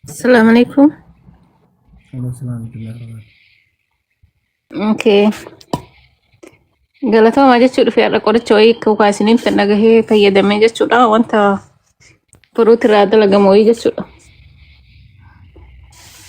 Assalamu alaikum. Waalaikum salaam warahmatullahi wabarakatuh. Okay. Galatoomaa jechuu dhufee har'a qoricha wayii akka ukaa isiniin fedha gahee fayyadamee jechuudha. Wanta furuuti irraa dalagamu wayii jechuudha.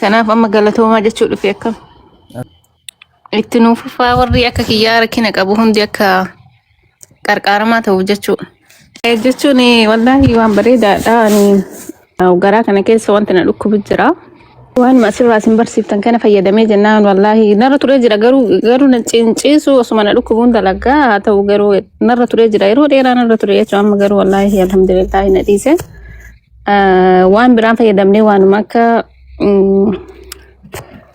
Kanaaf amma galatoomaa jechuu dhufee akkam. Itti nuuf fufaa warri akka kiyyaa rakkina qabu hundi akka qarqaaramaa ta'uuf jechuudha. Eh, Jechuun eh, wallaahi waan bareedaadha. Ani eh, garaa kana keessa wanti na dhukkubu jira. Waan asirraa isin barsiiftan kana fayyadamee jennaan wallaahi narra turee jira garuu garuu na ciinciisu osuma na dhukkubuun dalagaa haa ta'u garuu narra turee jira yeroo dheeraa narra ture jechuun amma garuu wallaahi alhamdulillaahi na dhiise. Eh, Waan biraan fayyadamnee waanuma akka mm,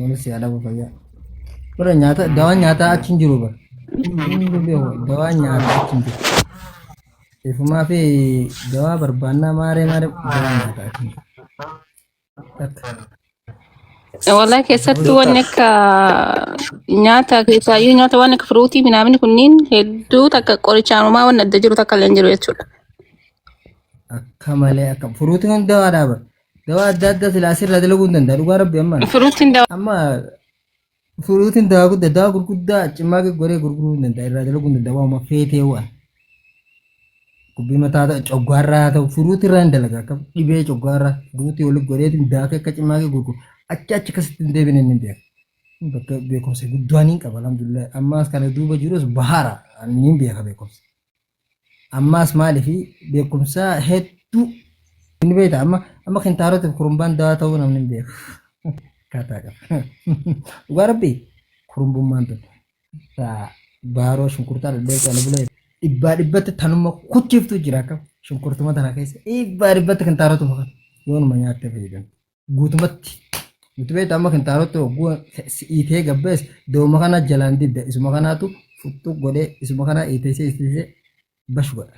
Wani si ala buka ya. Ora nyata dawa nyata achin jiru ba. Ini ko be dawa nyata achin jiru. Ifu ma fi dawa barbanna mare mare dawa nyata achin jiru. Walaa keessatti wanni akka nyaata keessaayyuu nyaata waan akka firuutii minaamini kunniin hedduu takka qorichaanumaa waan adda jiru takka illee hin jiru jechuudha. Akka malee akka furuuti kun dawa daba. Dawaa adda addaa silaa asirraa dalaguu hin danda'a dhugaa rabbi amma. Furuutiin dawaa. Amma furuutiin dawaa guddaa dawaa gurguddaa cimmaa goree gurguruu hin danda'a irraa dalaguu hin danda'a waanuma feetee waan. Gubbii mataa ta'u coggaarraa haa ta'u furuutii irraa hin dalaga akka dhibee coggaarraa furuutii walitti godheetiin daakee akka cimmaa gurguru achi achi akkasitti hin deebine inni beeku. Bakka beekumsa guddaa ni qaba alhamdulillah ammaas kana duuba jirus bahaara ni beeka beekumsa. Ammaas maalifi beekumsaa hedduu hin beekta amma amma kintaarotiif kurumbaan dawaa ta'uu namni hin beeku. Kaataa qaba. Dhugaa rabbii kurumbummaan tun taa baaroo shunkurtaa dhadheessa ala bulee dhibbaa dhibbatti tanuma kuchiftuu jira akkam shunkurtuma tana keessa dhibbaa dhibbatti kintaarotuma kan yoonuma nyaattee fayyadamti. guutumatti nuti beektu amma kintaalota hogguu si'iitee gabbees dooma kana jalaan didda isuma kanaatu futtu godhee isuma kanaa iiteessee iiteessee bash godha.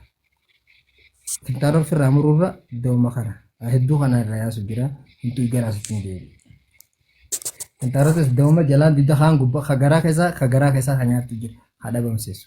Kintaalota ofirraa muruurra dooma kana hedduu kana irraa yaasu jira hedduu garaa sitti hin deebi'u. Kintaalota dooma jalaan didda kaan gubbaa ka garaa keessaa ka garaa keessaa ka nyaattu jira haa dhabamsiisu.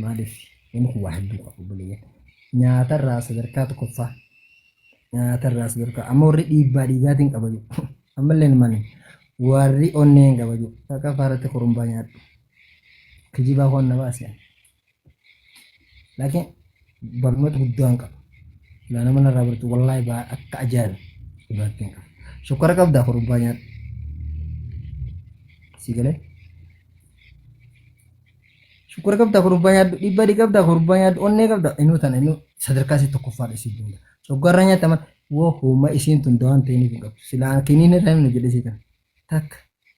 Maaliif? Inni kun waa hedduu qaba obboleeyyan. Nyaatarraa sadarkaa tokkoffaa. Nyaatarraa sadarkaa. Amma warri dhiibbaa dhiigaatiin qaba jiru. Ammallee mani warri onneen qaba jiru. Takka faaratti korumbaa nyaadhu. Kijibaa waan na baasisan. Laakiin barnoota guddaan qaba. Laa nama narraa bartu wallaahi baa akka ajaa'iba dhugaattiin qaba. Shokkora qabdaa korumbaa nyaadhu. Si galee? Shukura qabda kurbaa nyaadhu dhiibbaa qabda kurbaa nyaadhu onnee qabda inuu tana inuu sadarkaa isii tokkoffaadha isii bunda. Coggaarraa nyaata mana woo hooma isiin tun dawaan ta'iniif hin qabdu. Silaa kiniin irraa himnu jedhe isii tana. Takka.